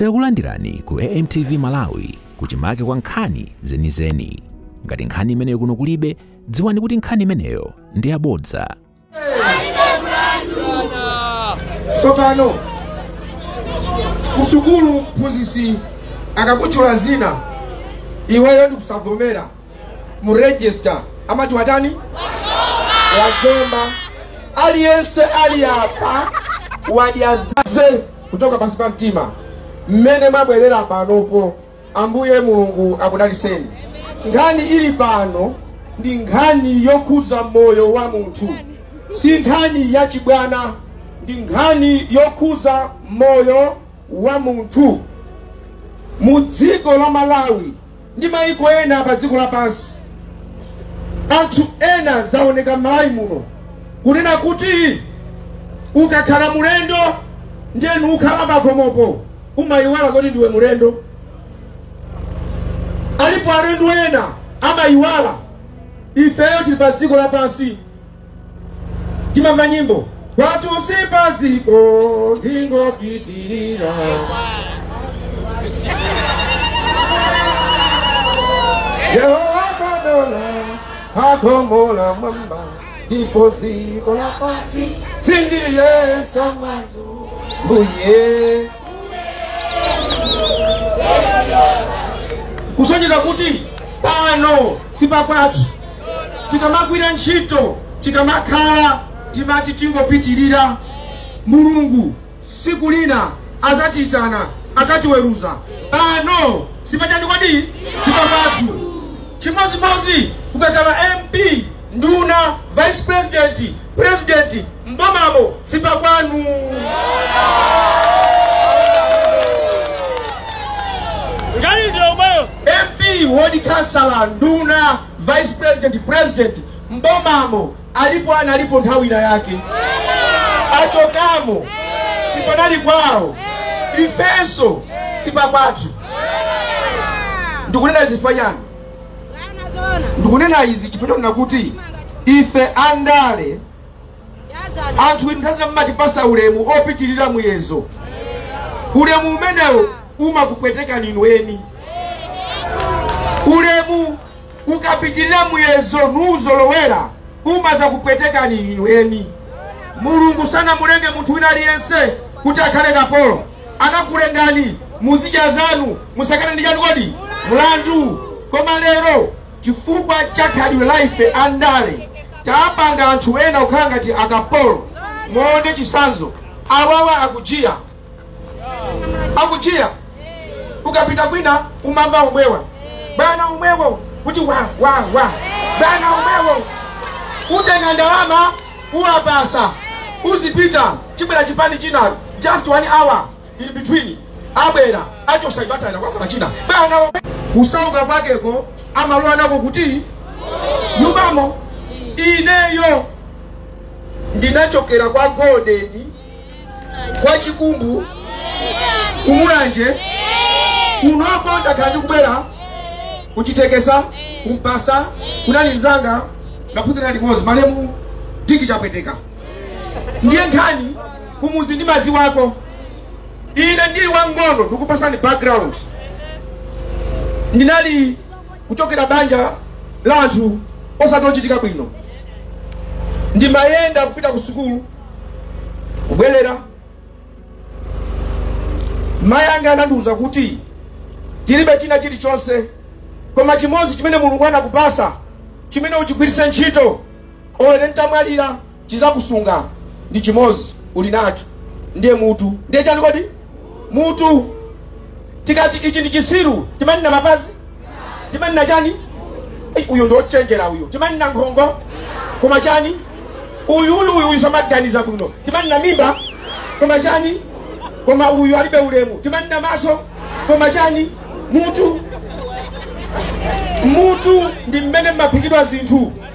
Takulandirani ku AMTV Malawi kuchimake kwa nkhani zenizeni. Ngati nkhani imeneyo kuno kulibe, dziwani kuti nkhani imeneyo ndi yabodza. tsopano kusukulu mphunzitsi akakutchula zina iweyo ndikusavomera mu register amati watani wajomba aliyense ali apa wadyazaze kuchoka pansi pa mtima mmene mwabwerera panopo. Ambuye Mulungu akudaliseni. Nkhani ili pano ndi nkhani yokhudza moyo wa munthu, si nkhani ya chibwana, ndi nkhani yokhudza moyo wa munthu mu dziko la Malawi. ndi mayiko ena pa dziko lapansi. Anthu ena zaoneka m'Malawi muno kunena kuti ukakhala mulendo ndiye nukhala pakhomopo umayiwala kuti ndiwe mulendo. Alipo alendo ena amayiwala ifeyo tili pa dziko lapansi timamva nyimbo kwathu si padziko ndingopitirira yehova kadola akomola mwamba ndipo dziko lapansi sindiliyesa kwathu mbuye kusonyeza kuti pano si pakwathu tikamagwira ntchito tikamakhala timati tingopitirira mulungu siku lina azatiyitana akatiweruza pano si pachani kodi sipakwathu chimodzimodzi ukakhala mp nduna vice president president mbomamo sipakwanu Gari ndio ubayo. MP, ward councillor, nduna, vice president, president, mbomamo alipo analipo nthawi ina yake achokamo sipanali kwawo ifenso sipakwathu ndikunena izi chifukwa chani ndikunena izi chifukwa chonena kuti ife andale anthu inu nthawi zina mumatipasa ulemu opitirira muyezo ulemu umenewo umakupwetekani inu eni ulemu ukapitirira muyezo nuuzolowera umazakupwetekani inu eni mulungu sanamulenge munthu wina aliyense kuti akhale kapolo anakulengani muzidya zanu musakane ndi chani kodi mulandu koma lero Chifukwa cha khalidwe la ife a ndale tapanga anthu ena kukhala ngati akapolo. Muone chisanzo awawa akujiya akujiya ukapita kwina umamva umwewa bwana umwewo kuti wa wa wa bwana umwewo utenga ndalama uwapasa uzipita chibwera chipani china just one hour in between abwera achosa icho atayira kwafuna china bwana kusauka kwakeko amalowa nako kuti nyumbamo ineyo ndinachokera kwa golden kwa chikumbu kumulanje kunoko ndakhala ndikubwera kuchitekesa kumpasa kunali mzanga ndaphunzira limodzi malemu tiki chapweteka ndiye nkhani kumuzi ndimaziwako ine ndili wang'ono ndikupasani background ndinali kuchokera banja la anthu osati ochitika bwino ndimayenda kupita ku sukulu kubwerera mayi anga anandiwuza kuti tilibe china chilichonse koma chimodzi chimene mulungu anakupasa chimene uchigwiritse ntchito olo ine ntamwalira chizakusunga ndi chimozi uli nacho ndiye mutu ndiye chani kodi mutu tikati ichi ndi chisiru timanena mapazi timanena chani Ei, uyu ndi ochenjera uyu timanena nkhongo koma chani uyu uyu uyu uyu samaganiza bwino timanena mimba koma chani koma uyu alibe ulemu timanena maso koma chani mutu mutu ndi mmene mmaphikidwa zinthu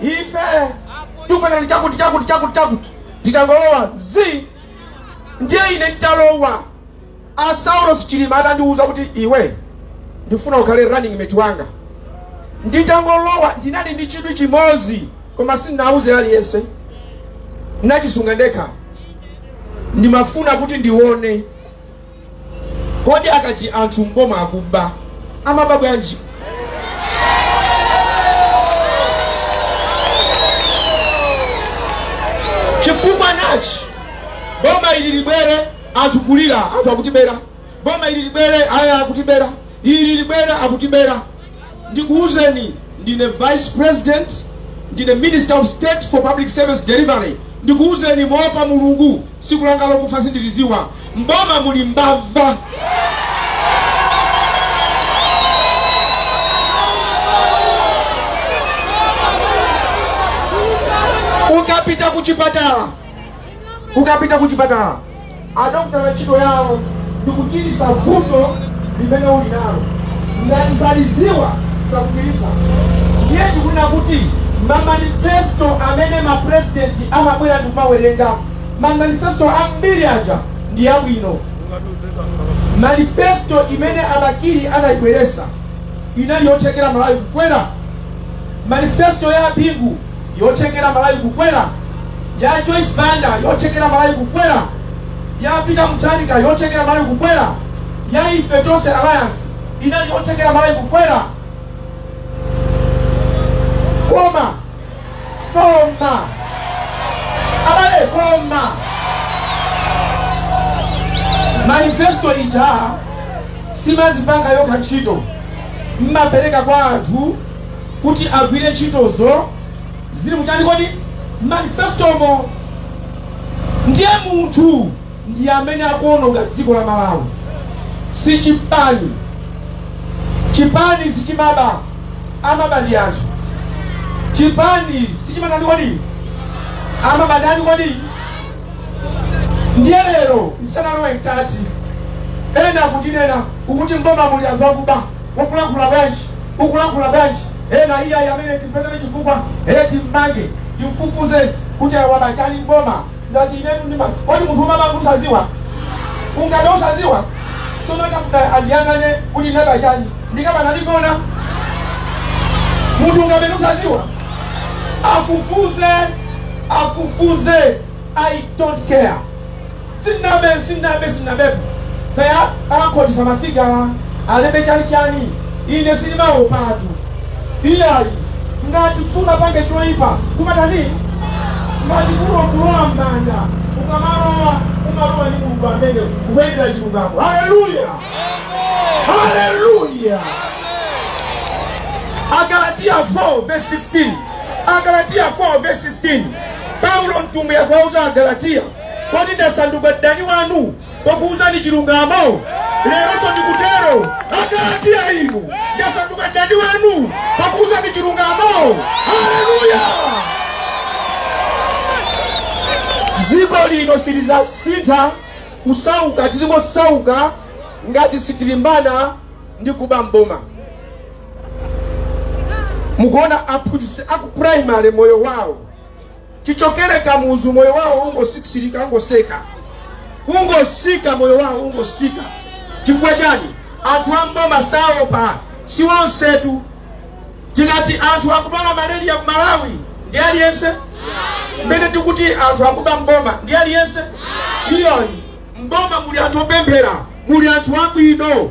ife tikuperekani chakuti chakuti chakuti chakuti tikangolowa zi ndiye ine nditalowa a saulos chilima atandiwuza kuti iwe ndifuna ukhale running mate wanga nditangolowa ndinali ndi chidwi chimodzi koma sindinawuze aliyense nachisunga ndekha ndimafuna kuti ndione Kodi akati anthu m'boma akuba, amaba bwanji? Chifukwa nachi, boma ili libwere anthu kulira, anthu akutibera. Boma ili libwere, aya akutibera. Ili libwere, akutibera. Ndikuuzeni, ndine vice president, ndine minister of state for public service delivery. Ndikuuzeni moopa Mulungu, siku langa lokufa sindiliziwa. Mboma muli mbava. ukapita kuchipatala ukapita kuchipatala adokotala ntchito yawo ndi kuchiritsa vuto limene uli nalo ngati salidziwa sakuchiritsa ndiye ndikunena kuti mamanifesto amene mapurezidenti amabwera ndi kumawerenga mamanifesto ambiri aja ndi abwino manifesto imene a bakili anayibweresa inali yothekera malawi kukwera manifesto ya a bingu yothekera malawi kukwera ya joyce banda yothekera malawi kukwera ya peter mutharika yothekera malawi kukwera ya ife tonse alliance inali yothekera malawi kukwera koma koma abale koma manifesto ija simazipanga yokha ntchito mmapereka kwa anthu kuti agwire ntchitozo zili muchani kodi manifestomo ndiye munthu ndi amene akuononga dziko la malawi si chipani chipani sichimaba amaba ndi anthu chipani sichimatani kodi amaba ndani kodi ndiye lero ndisanalowe mkati ena kutinena ukuti mboma muli anthu akuba Ukulankhula bwanji? Ukulankhula bwanji? Ena iyayi amene timpezere chifukwa ee timmange timfufuze kuti ayi waba chani m'boma ngati inetu ndima kodi munthu umaba usaziwa ungabe usaziwa tsono akafuna andiyang'ane kuti ndinaba chani ndinkaba ndikugona munthu ungabe usaziwa afufuze afufuze i don't care Sinnabe, sinnabe, sinnabepo. Kaya akhotetsa mafiga alembe chani chani. Ine sindimaopatu. Iyayi. Ngati sunapange choipa, sumatani? Ngati kulo kulowa m'manja, ukamalowa umalowa ndi mulungu amene kuyendera chilungamo. Haleluya! Haleluya! Agalatiya 4 verse 16. Agalatiya 4 verse 16. Paulo mtumwi akuwauza Agalatiya Kodi ndasanduka mdani wanu pokuuzani chilungamo? Leronso ndikutero. Agalatiya inu, ndasanduka mdani wanu pokuuzani chilungamo? Haleluya! Dziko lino silidzasintha kusauka, tizingosauka ngati sitilimbana ndi kuba mboma. Mukuona aphunzitsi aku primary moyo wawo Chichokere Kamuzu moyo wawo ungosisirika, ungoseka, ungosika, moyo wawo ungosika. Chifukwa chani? Anthu a mboma saopa, si onsetu. Tikati anthu akudwala malaria mu Malawi ndi aliyense mmene tikuti anthu akuba mboma ndi aliyense iyayi. Mboma muli anthu opemphera, muli anthu abwino.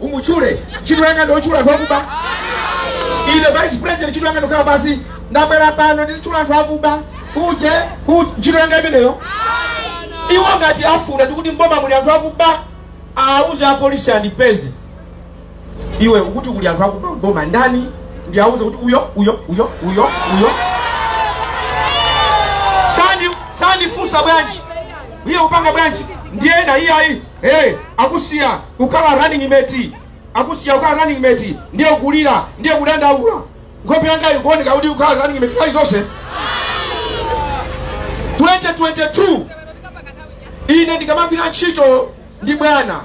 umutchule ntchito yanga ndi yotchula anthu akuba ine vice president ntchito yanga ndi yokhala basi ndabwera pano nditchula anthu akuba uje uje ntchito yanga imeneyo iwo ngati afuna ndikuti mboma muli anthu akuba auze apolisi andipeze iwe ukuti kuli anthu akuba mboma ndani ndi auze kuti uyo uyo uyo uyo uyo sandi sandifunsa bwanji iye upanga bwanji ndiye ena iyayi Hey, akusiya kukhala running mate akusiya kukhala running mate ndiye kulira ndiye kudandaula nkhope yanga ikuoneka kuti ukhala running mate nthawi zonse 2022 ine ndikamagwira ntchito ndi bwana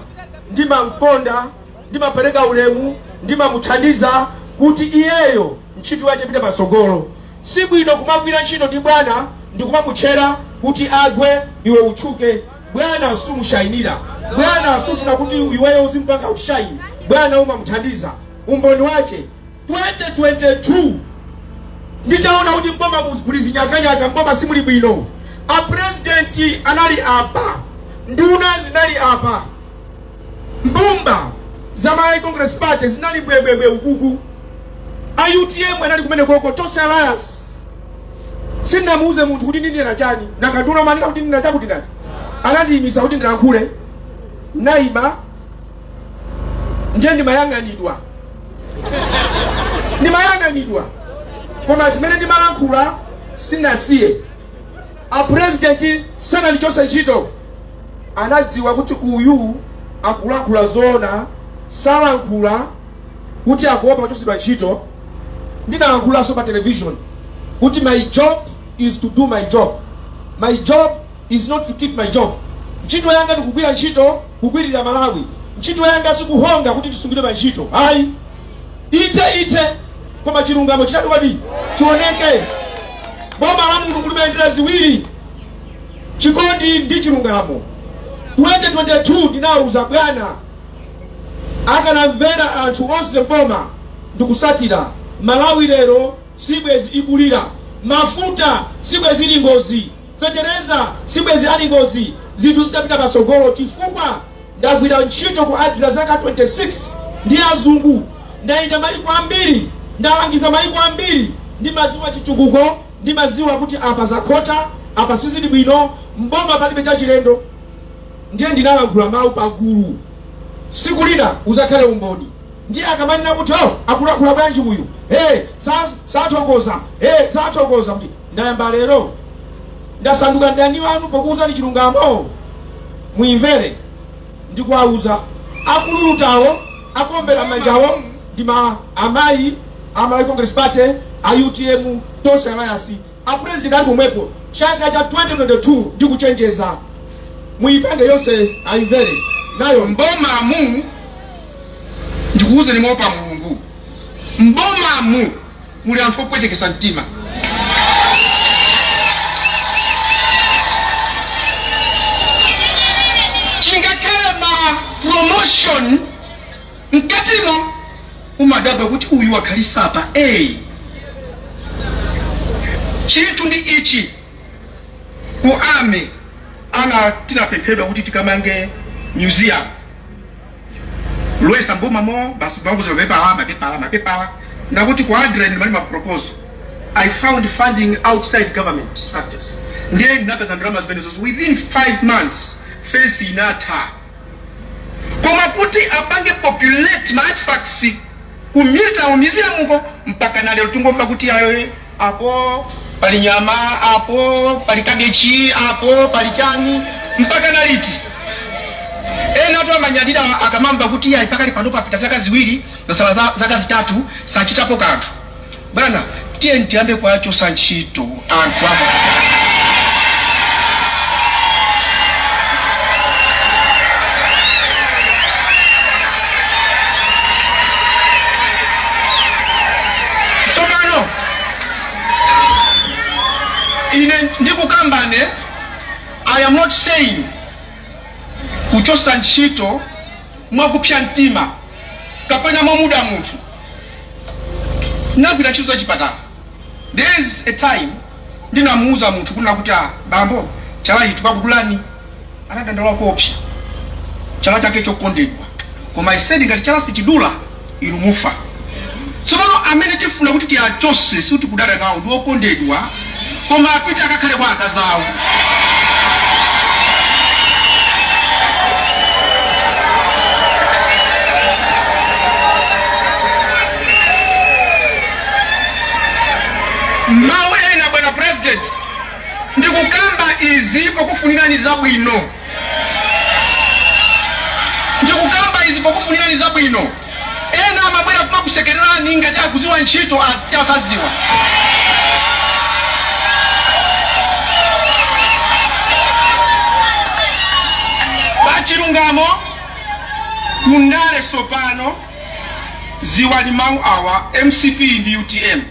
ndimamkonda ndimapereka ulemu ndimamuthandiza kuti iyeyo ntchito yake ipite patsogolo si bwino kumagwira ntchito ndi bwana ndikumamutchera kuti agwe iwe utchuke Bwana sumushainira bwana sufuna kuti iweyo uzimpanga uti ushaine bwana umamuthandiza umboni wache 2022 nditaona kuti mboma muli zinyakanyaka mboma simuli bwino apresidenti anali apa nduna zinali apa mbumba za malawi congress party zinali bwebwebwe ukuku a utm anali kumeneko ko tonse alliance sindinamuuze munthu kuti ndinena chani nanga nduna amanena kuti ndinena chakuti ndani anandiyimisa kuti ndilankhule naima ndiye ndimayang'anidwa ndimayang'anidwa koma zimene ndimalankhula sindinasiye apurezidenti sanandichotse ntchito anadziwa kuti uyu akulankhula zoona salankhula kuti akuopa kuchotsedwa ntchito ndinalankhulaso pa television kuti my job is to do my job my job is not to keep my job ntchito yanga ndikugwira ntchito kugwirira malawi ntchito yanga sikuhonga kuti ndisungidwe pa ntchito ayi ipite ipite koma chilungamo chitani chioneke boma la mulungu limayendera ziwiri chikondi ndi chilungamo 2022 ndinawuza bwana akanamvera anthu onse mboma ndikusatira malawi lero sibwezi ikulira mafuta sibwezi ili ngozi fetereza sibwezi ali ngozi zinthu zitapita patsogolo chifukwa ndagwira ntchito ku adira zaka 26 ndi azungu ndayenda mayiko ambiri ndalangiza mayiko ambiri ndimaziwa chitukuko ndimaziwa kuti apa zakhota apa sizili bwino mboma palibe chachilendo ndiye ndinalankhula mawu pagulu siku lina uzakhale umboni ndiye akamanena kuti o akulankhula bwanji uyu e sathokoza e sathokoza kuti ndayamba lero ndasanduka mdani wanu pokuwuzani chilungamo muimvere ndikuwawuza akululutirawo akombera manjawo ndimaamayi a malawi congress party a utm tonse alliance A president ali pomwepo chaka cha 2022 ndikuchenjeza muipeze yonse aimvere nayo. M'bomamu ndikuuzeni moopa Mulungu, m'bomamu muli anthu opwetekesa mtima. Chingakhale ma promotion mkatimo umadabwa kuti uyu wakhalisa apa ee chinthu ndi ichi ku ame ana tinapemphedwa kuti tikamange museum ulesi mboma mo basi bvuto la mapepala mapepala mapepala koma kuti ku adren mali maproposal i found funding outside government structures ndiye ndinapeza ndalama zimenezo within five months fensi inatha koma kuti apange populate ma artifacts ku Military Museum ko mpaka na lero tungomva kuti ayi apo pali nyama apo pali kabechi apo pali chani mpaka na liti ena tu amanyadira akamamva kuti ayi pakali pano papita zaka ziwiri kwasala za- zaka zitatu sachitapo kanthu Bwana tiyeni tiyambe kuwachosa ntchito anthu apo tsopano ine ndikukambane i am not saying kuchosa ntchito mwakupsya mtima kapena mwamuda munthu ndinagwira ntchito za chipatala there is a time ndinamuuza munthu kunena kuti ah bambo chala ichi tikakudulani anadandaula koopsa chala chake chokondedwa koma I said ngati chala sichidula inu mufa sopano amene tifuna kuti tiachose sitikudana nawo ndi okondedwa koma apite akakhale kwa akazi awo mawu ena bwana president ndikukamba izi pokufunirani zabwino Ndikukamba izi pokufunirani zabwino. Ena amabwera kumakusekererani ngati akuziwa ntchito atasaziwa. Pachilungamo ku ndale sopano ziwani mau awa mcp ndi utm.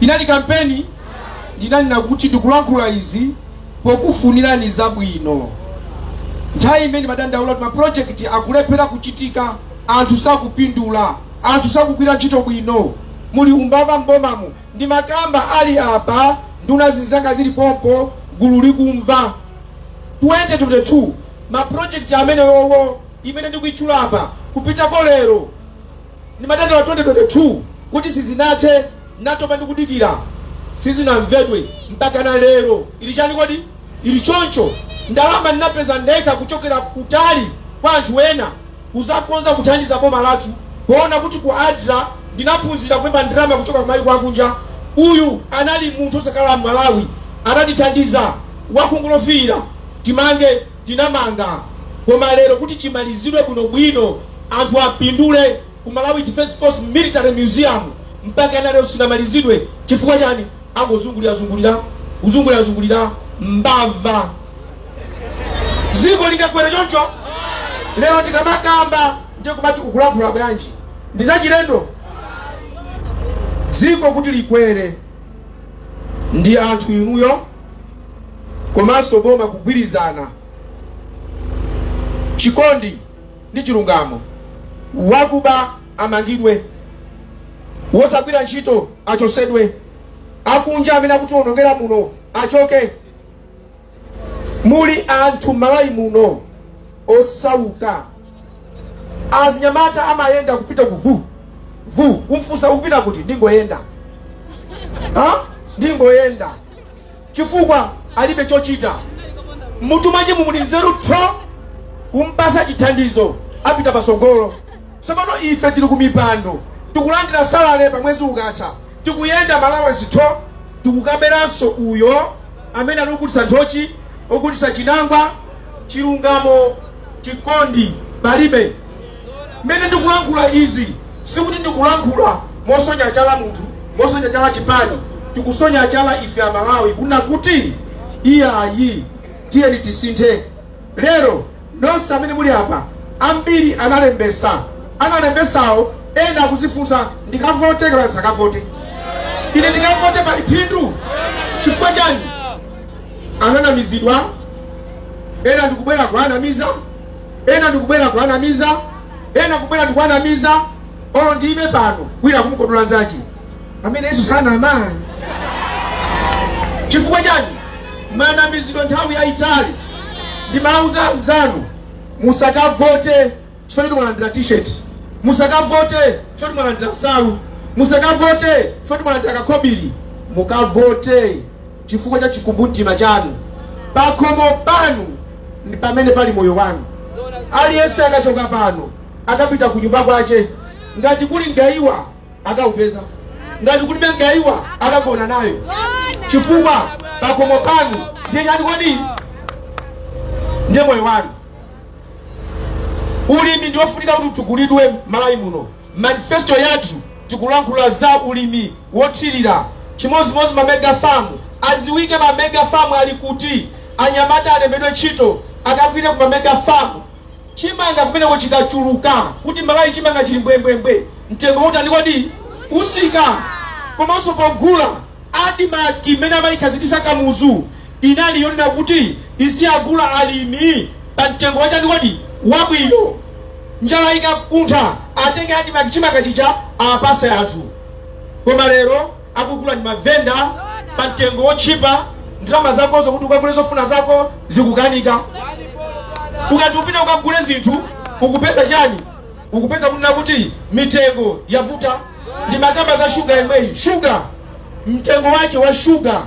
inali kampeni ndinanena kuti ndikulankhula izi pokufunirani zabwino nthawi imene ndimadandaula kuti mapulojekiti akulephera kuchitika anthu sakupindula anthu sakugwira ntchito bwino muli umbava m'bomamu ndimakamba ali apa nduna zinzanga zili pompo gulu likumva 2022 mapulojekiti amenewowo imene ndikuitchulapa kupitako lero Ndimadandaula 2022 kuti sizinathe, natopa ndi kudikira, sizinamvedwe mpakana lero. Ili chani kodi? Ili choncho, ndalama ndinapeza ndekha kuchokera kutali kwa anthu ena kuzakonza kuthandiza boma lathu poona kuti ku adra ndinaphunzira kulemba ndalama kuchoka kumayiko akunja. Uyu anali munthu osakhala mmalawi anatithandiza, wakhungu lofiira. Timange. tinamanga koma lero kuti chimalizidwe bwino bwino anthu apindule ku Malawi Defence Force Military Museum mpakana lero sinamalizidwe chifukwa chani angozungulira zungulira kuzungulira zungulira mbava ziko lingakwere choncho lero ndikamakamba ndiye kumati ukulankhula bwanji ndi zachilendo dziko kuti likwere ndi anthu inuyo komanso boma kugwirizana, chikondi ndi chilungamo. Wakuba amangidwe, wosagwira ntchito achosedwe, akunja amene akutionongera muno achoke. Muli anthu Malawi muno osauka, azinyamata amayenda kupita kuvu vu, kumfunsa ukupita kuti, ndingoyenda ha ndingoyenda chifukwa alibe chochita mmutu mwachemu muli nzeru tho kumpasa chithandizo apita pasogolo sopano ife tili kumipando tikulandira salale pa mwezi ukatha tikuyenda ma allowance tho tikukaberanso uyo amene akugulitsa nthochi ogulitsa chinangwa chilungamo chikondi palibe Mmene ndikulankhula izi sikuti ndikulankhula mosonya chala munthu, mosonya chala chipani, tikusonya chala ife a Malawi kuna kuti iyayi tiyeni tisinthe. Lero anthu onse amene muli apa ambiri analembesa, analembesawo ena akuzifunsa ndikavote kapena ndisakavote, ine ndikavote pali phindu chifukwa chani? Ananamizidwa ena ndikubwera kuanamiza ena ndikubwera kuanamiza ena kubwera ndikuanamiza olo ndiime pano wina kumukodola nzache amene yesu sanama chifukwa chani manamizidwa nthawi yayitali ndimauza anzanu musakavote chifukwa kuti mwalandira t-shirt musakavote chifukwa kuti mwalandira nsalu musakavote chifukwa kuti mwalandira kakobiri mukavote chifukwa cha chikumbumtima chanu. Pakhomo panu ndi pamene pali moyo wanu. Aliyense akachoka pano akapita kunyumba kwache, ngati kuli mgaiwa akaupeza, ngati kulibe mgaiwa akagona nayo, chifukwa pakhomo panu ndiye chani kodi? Ndiye moyo wanu. Ulimi ndi wofunika kuti utukulidwe Malawi muno. Manifesto yathu tikulankhula za ulimi wothilira chimodzimodzi ma mega farm aziwike ma mega farm ali kuti anyamata alembedwe ntchito akagwire ku ma mega farm chimanga kumeneko chikachuluka kuti malawi chimanga chili mbwembwembwe mtengo utani kodi utsika komanso pogula admarc imene amayikhazikisa kamuzu inali yonena kuti iziwagula alimi pa mtengo wachani kodi wabwino njala ikakuntha atenge admarc chimanga chija apase anthu koma lero akugula ndi mavenda pa mtengo wotchipa ndalama zakozo kuti ukagule zofuna zako zikukanika ukati upita ukagule zinthu ukupeza chani ukupeza kunena kuti mitengo yavuta ndimakamba za shuga yemweyi shuga mtengo wache wa shuga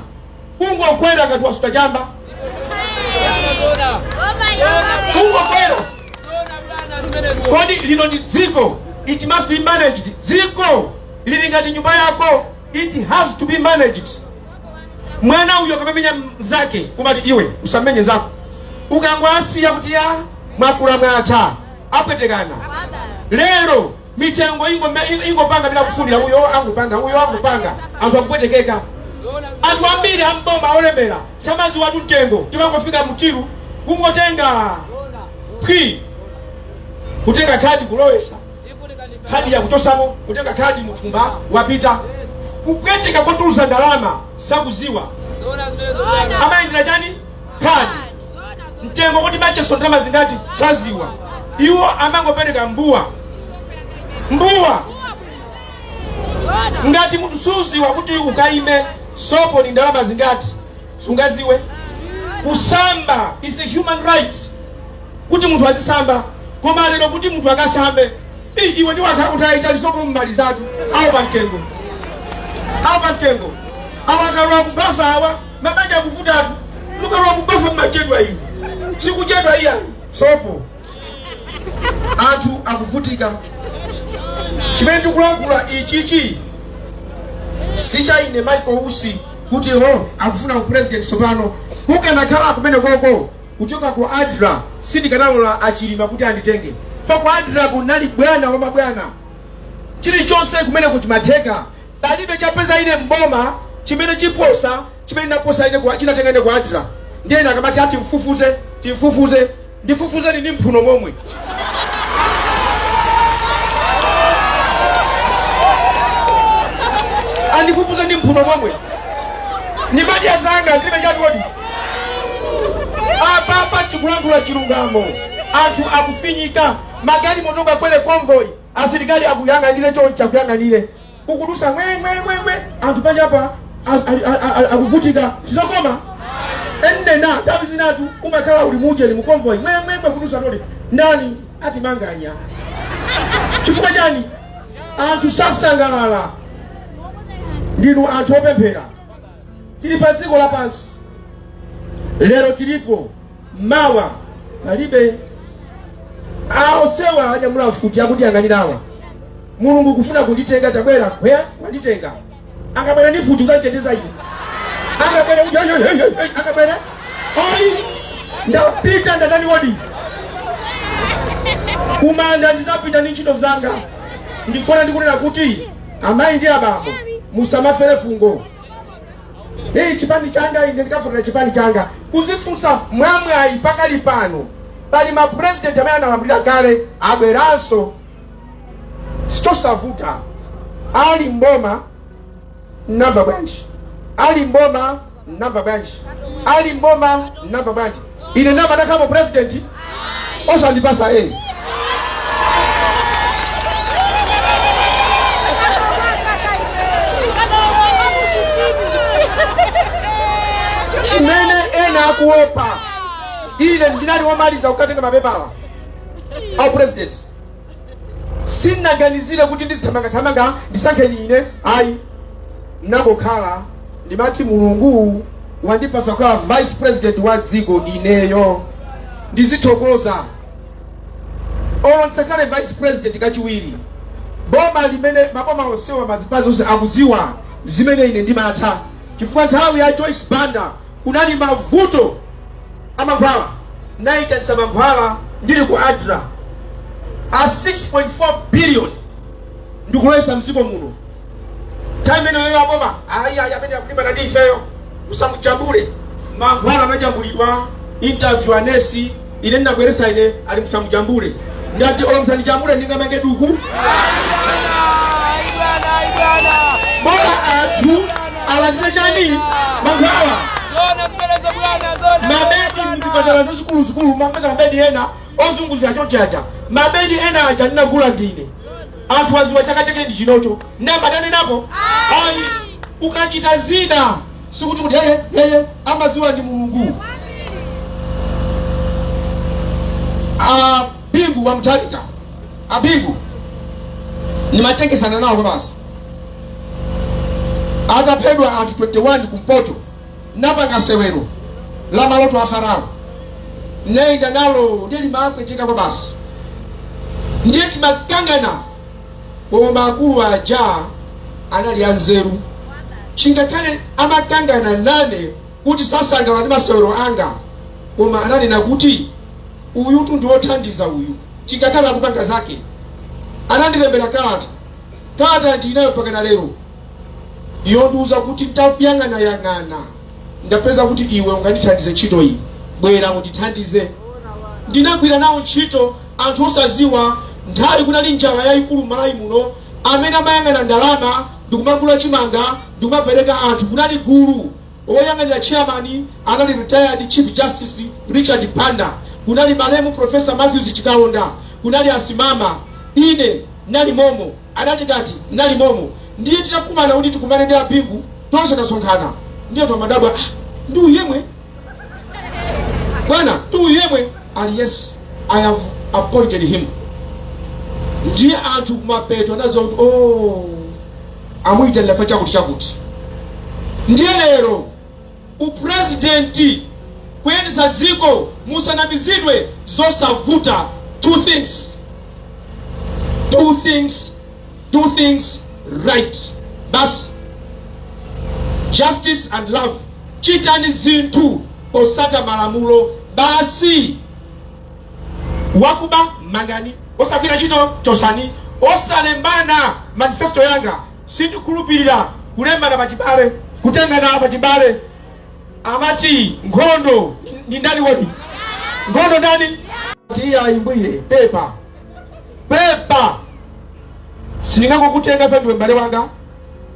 ungokwera ngati wasuta chamba ungokwera kodi lino ndi dziko it must be managed dziko lili ngati nyumba yako it has to be managed mwana uyo akamamenya mzake kumati iwe usamenye nzako ukangwasiya kuti ya mwakula mwatha apwetekana lero mitengo ingo me- ingo- ingopanga mmene ikufunira uyo angopanga uyo angopanga anthu akupwetekeka anthu ambiri amboma olemera samaziwatu mtengo amangofika pa till kungotenga phwi kutenga khadi kulowesa khadi yakuchosamo kutenga khadi muthumba wapita kupweteka kotulusa ndalama sakuziwa amayendera chani khadi mtengo kuti batcha sopo ndalama zingati saziwa iwo amangopereka mbuwa mbuwa ngati munthu suziwa kuti ukagule sopo ni ndalama zingati sungaziwe kusamba is a human right kuti munthu azisamba koma lero kuti munthu akasambe "Ii, iwe ndi wakhala kuti ayitali sopo mumalizatu awo pa mtengo awo pa mtengo awa akalowa kubafa awa Mabanja akuvutatu mukalowa mubafa mmachedwa sikuchedwa iyayi sopo anthu akuvutika chimene ndikulankhula ichichi sichaine michael usi kuti o akufuna upresident tsopano kukanakhala kumene koko kuchoka ku adra sindikanalola achilima kuti anditenge pa ku adra kunali bwana wa mabwana chilichonse kumene chimatheka Palibe chapeza ine m'boma chimene chiposa chimene ndinaposa ine kwa chinatenga ine kwa Adra. Ndiye ine akamati ati timfufuze, timfufuze, ndifufuzeni ndi mphuno momwe. Andifufuze ndi mphuno momwe. Ni madi ya zanga ndilibe chatu kodi. Apa apa chikulankhula chilungamo. Anthu akufinyika ma guard motoka kwele convoy. asilikali akuyang'anire chonchi akuyang'anire ukudusa ngwengwengwengwe anthu panjapa akuvutika sizokoma inetu nthawi zinatu umakhala uli mujeni mukonvoyi ngwengwengwe kudusa toti ndani atimanganya chifukwa chani anthu sasangalala ndinu anthu opemphera tili pa dziko lapansi lero tilipo mawa palibe aosewa anyamula mfuti akundiyang'anirawa mulungu kufuna kunditenga tabwera iwe wanditenga akabwera ndi mfuti uzanditeteza ine akabwera kuti, "Hey, hey, hey, hey, hey," akabwera oi ndapita ndatani wodi kumanda ndizapita ndi ntchito zanga ndi chona ndikunena kuti amayi ndi abambo musamafere fungo Hii chipani changa ine ndikavotera chipani changa kuzifunsa mwamwayi pakali pano pali ma president amene analamulira kale abweranso sichosavuta ali mboma mnamva bwanji ali mboma mnamva bwanji ali mboma mnamva bwanji ine ndinabwera ndakhalamo upresident osandipasa a chimene ena akuopa ine ndinali womaliza kukatenga mapepala a upresident sinnaganizire kuti ndizithamangathamanga ndisankheni ine ayi nangokhala ndimati mulungu wandipasa kukhala vice president wa dziko ineyo ndizithokoza olo ndisakhale vice president kachiwiri boma limene maboma onsewa mazipani onse akudziwa zimene ine ndimatha chifukwa nthawi ya joyce banda kunali mavuto amankhwala naitanisa mankhwala ndili ku adra a 6.4 billion ndikuloweza mdziko muno nthawi imeneyo aboma ayi ayi amene akulimbana ndi ifeyo musamujambule mankhwala anajambulidwa interview anesi ine ndinabweresa ine ali musamujambule ndati olo msandijambule ndingamange duku bola anthu alandire chani mankhwala mabedi muzipatala zazikuluzikulu mameka mabedi ena ozunguza chochacha mabedi ena aja ndinagula ndine anthu aziwa chaka chake ndi chinocho nambatanenapo ayi ukachita zina sikuti kuti yeye yeye amaziwa ndi mulungu abingu wa mtalika abingu nimatengesana nawo basi ataphedwa anthu 21 kumpoto napanga sewero la maloto a farao nayenda nalo ndiye limapweteka basi ndiye timakangana koma akulu aja anali anzeru chingakhale amakangana nane kuti sasangala ndi masewero anga koma ananena kuti uyutu ndi wothandiza uyu chingakhale akupanga zake anandilembera kalata kalata ndinayo pakana lero yondiuza kuti ndayang'anayang'ana ndapeza kuti iwe ungandithandize ntchito iyi bwera undithandize ndinagwira nawo ntchito Anthu osaziwa nthawi kunali njala yaikulu mmalawi muno amene amayang'ana ndalama ndikumagula chimanga ndikumapereka anthu kunali gulu oyang'anira chairman anali retired chief justice Richard Banda kunali malemu professor Mathews Chikaonda kunali asimama ine nali momo adatikati nali momo ndiye titakumana kuti tikumane ndi abingu tonse tasonkhana ndiye tomadabwa ah, ndi uyemwe bwana ndi uyemwe ali yes i have appointed him ndiye anthu kumapeto anaziwa kuti oh, amuyitanira za chakuti chakuti ndiye lero upresidenti kuyendetsa dziko musanamizidwe zosavuta two things two things two things right basi justice and love chitani zinthu potsata malamulo basi wakuba mangani osagwira ntchito chosani osalembana manifesto yanga sindikhulupirira kulembana pachibale kutengana pachibale amati nkhondo ndi ndani kodi nkhondo ndani tiyayimbe pepa pepa sindingangokutenga fe ndiwe m'bale wanga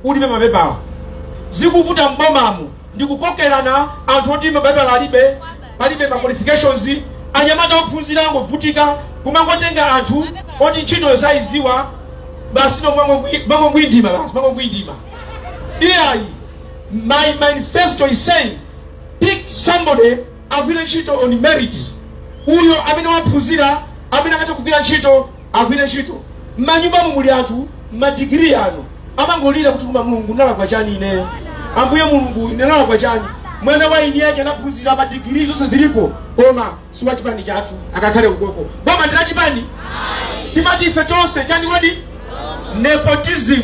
ulibe mapepawa zikuvuta m'bomamu ndikukokerana anthu oti mapepa alibe alibe ma qualifications anyamata ophunzira angovutika kumangotenga anthu oti ntchito sayidziwa basi no mangongwi- mangongwindima basi mangongwindima iyayi my manifesto is saying pick somebody agwire ntchito on merit uyo amene waphunzira amene akatha kugwira ntchito agwire ntchito mmanyumbamo muli anthu madigiri awo amangolira kuti koma mulungu ndalakwa chani ineyo ambuye mulungu ine ndalakwa chani mwana wa mwini wake anaphunzira madigiri zonse zilipo koma si wa chipani chathu akakhale ukoko boma ndi la chipani timati ife tonse chani kodi nepotism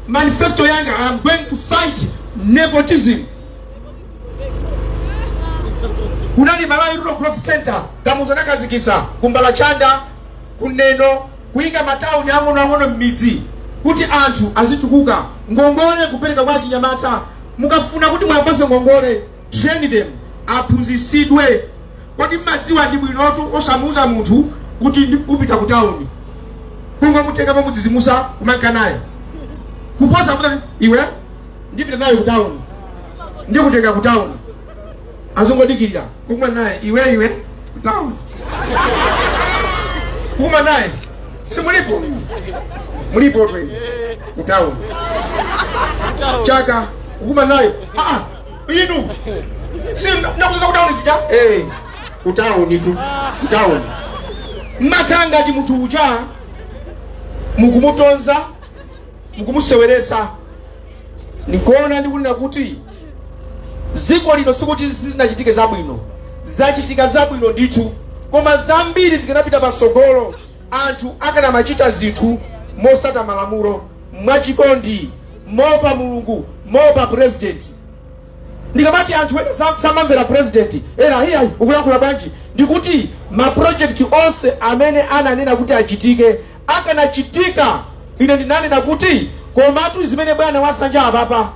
manifesto yanga i'm going to fight nepotism kunali malawi rural growth centre kamuzo anakhazikitsa kumbalachanda kuneno kuyika matauni ang'onoang'ono m'midzi kuti anthu azitukuka ngongole kupereka kwa achinyamata mukafuna kuti muwapatse ngongole train them aphunzitsidwe kodi mmadziwa ndi bwinotu osamuuza munthu kuti ndi- upita ku tauni kungomutenga pomudzidzimutsa kumanka naye kuposa kuti iwe ndipita naye ku tauni ndikutenga ku town azingodikirira kukuma naye iwe iwe ku town kukuma naye simulipo mulipo twe ku town chaka kukuma naye ah inu si munatiuza ku town zija eh ku town tu ku town makamaka munthu uja mukumutonza mukumuseweretsa ndikuona ndikunena kuti dziko lino sikuti sizinachitike zabwino zachitika zabwino ndithu koma zambiri zikanapita patsogolo anthu akanamachita zinthu motsata malamulo mwachikondi moopa mulungu moopa purezidenti ndikamati anthu ena sam- samamvera purezidenti ena iyayi ukulankhula bwanji ndikuti mapurojekiti onse amene ananena kuti achitike akanachitika, ine ndinanena kuti, Komatu zimene bwana asanja apapa,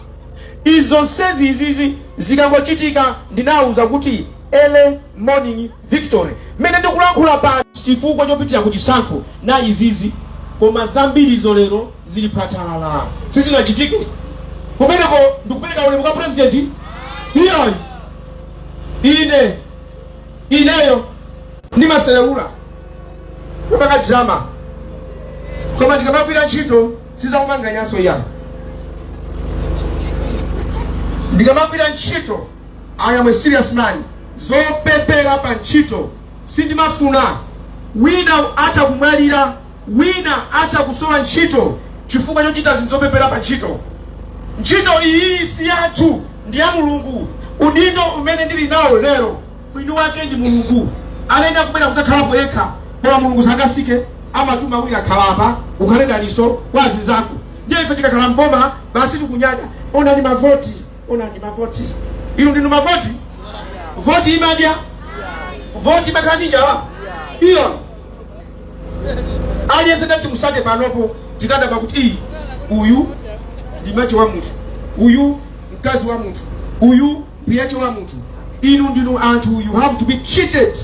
izo zonsezi izizi zikangochitika, ndinawauza kuti early morning victory, mmene ndikulankhula pano, sichifukwa chopitira ku chisankho na izizi, koma zambiri izo lero zili phwathalala, sizinachitike pamenepo. Ndikupereka ulemu kwa president iyayi ine ineyo ndimaselewula kupanga drama koma ndikamagwira ntchito sizakumanganyanso iyayi ndikamagwira ntchito i am a serious man zopepera pa ntchito sindimafuna wina atha kumwalira Wina atha kusowa ntchito chifukwa chochita zinthu zopepera pa ntchito. Ntchito iyiyi si yathu, ndi ya Mulungu. Udindo umene ndili nawo lero, mwini wake ndi Mulungu. Alenda kubwera kudzakhalapo yekha, koma Mulungu sangasike, amatuma wina khala apa, ukhale dalitso kwa azinzako. Ndiye ife tikakhala mboma, basi tikunyada, onani mavoti, onani mavoti. Inu ndinu mavoti? Voti imadya? Voti imakana njala? Iyo. aliyense ndati musate panopo tikadaba kuti iii uyu ndi mache wa munthu uyu mkazi wa munthu uyu mpiyache wa munthu inu ndinu anthu you have to be treated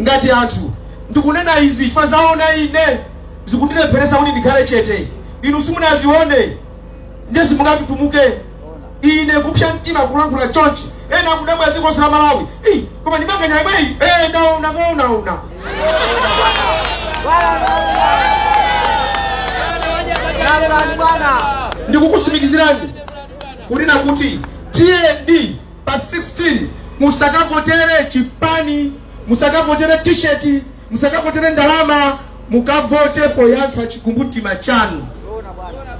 ngati anthu ndikunena izi chifukwa zaona ine zikundilepheresa kuti ndikhale chete inu simunazione ndiye simungatutumuke ine kupsya mtima kulankhula chonchi ena akudabwa dziko lonse la malawi Ih, koma ndimanganya yemweyi Eh, ndaona zonaona Landani bwana. ndikukusimikizirani kunena kuti tiyeni pa 16 musakavotere chipani musakavotere tisheti musakavotere ndalama mukavote poyankha chikumbumtima chanu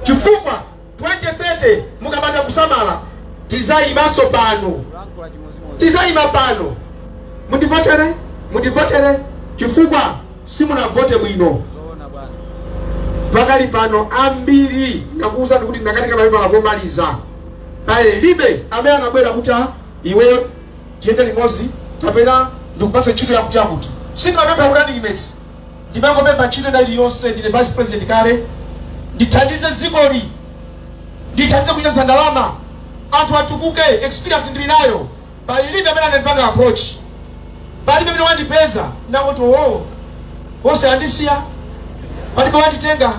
chifukwa 2030 mukapanda kusamala tizayimanso pano tizayima pano mundivotere mundivotere chifukwa simunavote bwino pakali pano ambiri nakuwuzani kuti ndakatenga mapepala komaliza palibe amene anabwera kuti "Ah, iweyo tiyende limodzi kapena ndikupasa ntchito yakuti yakuti sindimapempha running mate ndimangopempha ntchito ina iliyonse ndine vice president kale ndithandize dzikoli ndithandize kuchotsa ndalama anthu atukuke experience ndili nayo palibe amene anandipanga approach palibe amene wandipeza ndangoti oo onse andisiya palibe wanditenga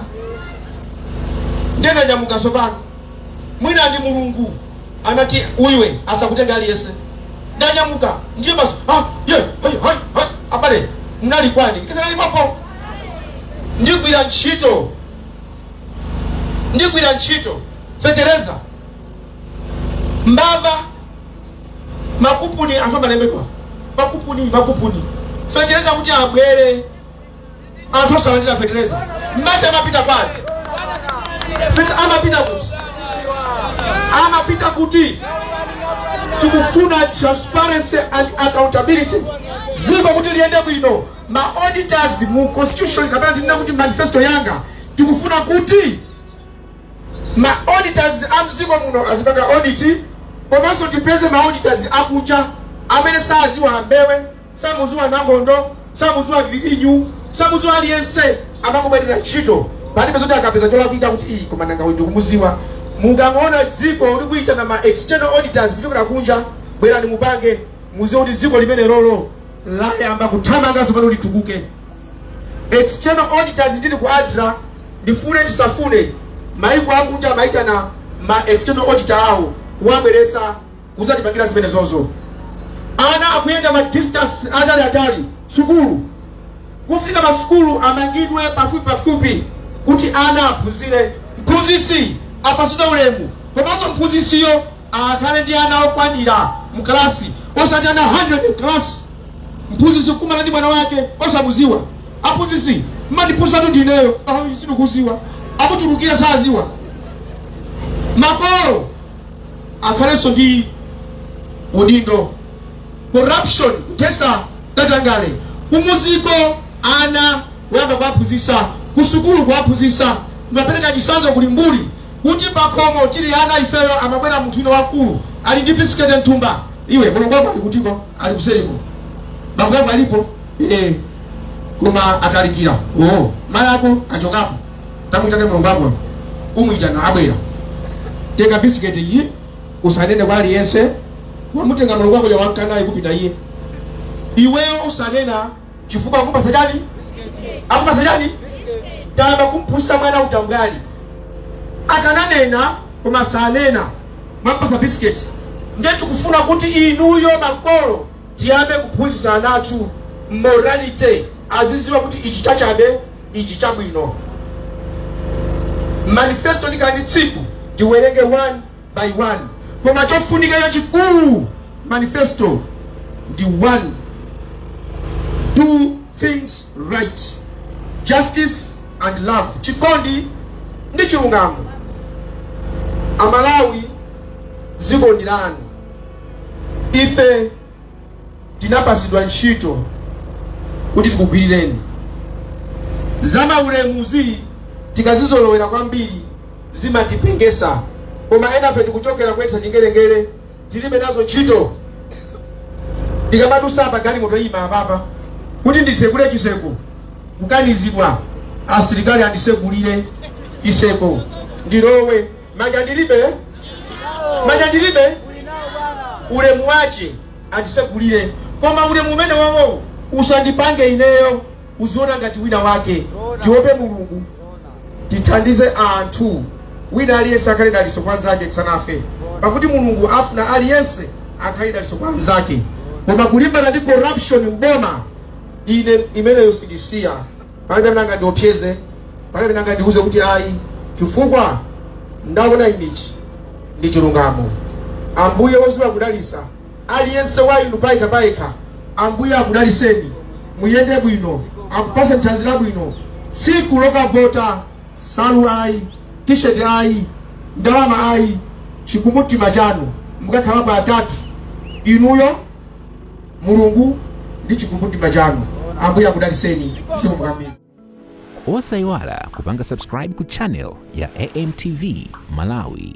ndiye ndanyamuka tsopano mwina ndi mulungu anati iwe asakutenge aliyense ndanyamuka ndiye basi ah, ye, hai, hai, hai. abale mnali kwani kisanali papo ndigwira ntchito ndigwira ntchito fetereza mbava makupuni anthu amalembedwa makupuni makupuni fetereza kuti abwere anthu osalandira fetereza mati amapita pali Feti amapita kuti amapita kuti tikufuna transparency and accountability ziko kuti liyende bwino ma auditors mu constitution kapena tinena kuti manifesto yanga tikufuna kuti ma auditors a mziko muno azipanga audit komanso tipeze ma auditors akunja amene saziwa a Mbewe Samuziwa Nangondo, samuziwa Giginyu, samuziwa aliyense amangobwerera ntchito palibe zoti akapeza cholakwika kuti iyi koma nanga uyu ndikumuziwa. Mukangoona dziko likuitana ma external auditors kuchokera kunja, bwerani mupange, muziwe kuti dziko limenelolo layamba kuthamanga sopano litukuke. External auditors ndili ku ADRA ndifune ndisafune maiko akunja amaitana ma external auditor awo kuwabweresa kuzatipangira zimenezozo ana akuyenda ma distance atali atali sukulu kufunika masukulu amangidwe pafupi pafupi kuti ana aphunzire mphunzitsi apatsidwe ulemu komanso mphunzitsiyo akhale ndi ana okwanira mu kalasi osati ana 100 kalasi mphunzitsi kukumana ndi mwana wake osamuziwa aphunzitsi mmandiphunzitsatu ndineyo sindikuziwa akutulukira saziwa makolo akhalenso ndi udindo corruption kuthesa katangale kumuziko ana kuyamba kuwaphunzitsa kusukulu kuwaphunzitsa kumapereka chisanzo ku Limbuli kuti pakhomo tili ana ifeyo amabwera munthu wina wamkulu ali ndi bisiketi mthumba iwe mulongo wako ali kutiko ali kuseriko bambo ako alipo eh koma atalikira oh mayi ako achokapo tamuyitane mulongo wako umuyitana abwera tenga bisiketi iyi usanene kwa aliyense wamutenga mulongo wako uja wanka naye kupita iye iweyo usanena chifukwa akupasa chani akupasa chani tayamba kumphunzisa mwana utambwali akananena koma sanena mwampasa bisiketi nde tikufuna kuti inuyo makolo tiyambe kuphunzitsa ana athu morality aziziwa kuti ichi chachabe ichi chabwino manifesto ndikhale ndi tsiku tiwerenge one by one koma chofunika chachikulu manifesto ndi one do things right justice and love chikondi ndi chilungamo amalawi dziko ndi lanu ife tinapatsidwa ntchito kuti tikugwirireni zamaulemuzi tikazizolowera kwambiri zimatipengesa koma enafe tikuchokera kuyendetsa chingerengere tilibe nazo ntchito tikamadusa apa galimoto iima apapa kuti ndisekule chiseko kukanizidwa asilikali andisegulire chiseko ndilowe manja ndilibe manja ndilibe ulemu wace andisegulire koma ulemu umene wawowo usandipange ineyo uziona ngati wina wake tiope mulungu tithandize anthu wina aliyense akhale daliso kwa nzake tisanafe pakuti mulungu afuna aliyense akhale daliso kwa nzake koma kulimbana ndi corruption mboma ine imeneyo sindisiya palibe amene angandiopseze palibe amene angandiuze kuti ayi chifukwa ndaona ichi ndi chilungamo ambuye woziwa kudalisa aliyense wa inu payekha payekha ambuye akudaliseni muyende bwino akupase nthanzi labwino tsiku lokavota salu ayi tisheti ayi ndalama ayi chikumbumtima chanu mukakhala pa atatu inuyo mulungu ndi chikumbumtima chanu ambuye akudaliseni zikomo kwambiri osayiwala kupanga subscribe ku channel ya amtv malawi